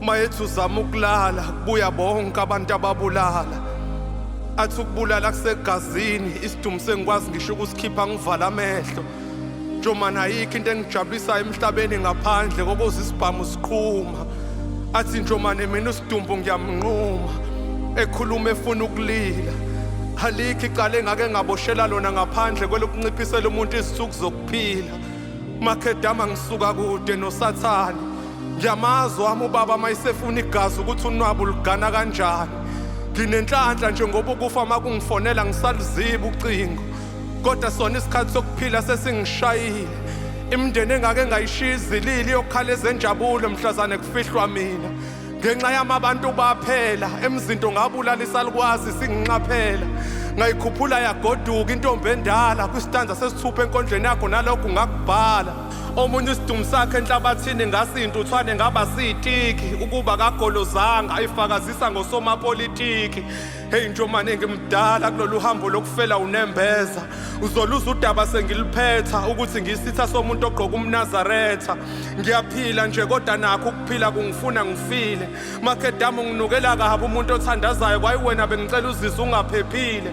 uma ethi uzama ukulala kubuya bonke abantu ababulala athi ukubulala kusegazini isidumi sengikwazi ngisho ukusikhipha ngivala amehlo njomani ayikho into engijabulisayo emhlabeni ngaphandle kokuze isibhamu siqhuma athi njomane mina usidumbu ngiyamnquma ekhuluma efuna ukulila alikho icala engake ngaboshela lona ngaphandle kwelokunciphisela umuntu izinsuku zokuphila makhedama ngisuka kude nosathane Ngiyamazi wami ubaba mayisefuna igazi ukuthi unwabu lugana kanjani. Nginenhlanhla nje ngoba ukufa makungifonela ngisaluziba ucingo. Kodwa sona isikhathi sokuphila sesingishayile. Imndeni engake ngayishiya izilili yokhala ezenjabulo mhlazane kufihlwa mina. Ngenxa yami abantu baphela emzinto ngabulala isalukwazi singinxaphela. Ngayikhuphula yagoduka intombi endala kwistanza sesithupha enkondleni yakho nalokhu ngakubhala. Omunye isidumu sakhe enhlabathini ngasintuthwane ngaba sitiki ukuba kagolozanga ayifakazisa ngosomapolitiki heyi njomane ngimdala kulolu hambo lokufela unembeza uzoluza udaba sengiliphetha ukuthi ngisitha somuntu ogqoka umnazaretha ngiyaphila nje kodwa nakho ukuphila kungifuna ngifile makedama unginukela kabi umuntu othandazayo kwayiwena bengicela uzise ungaphephile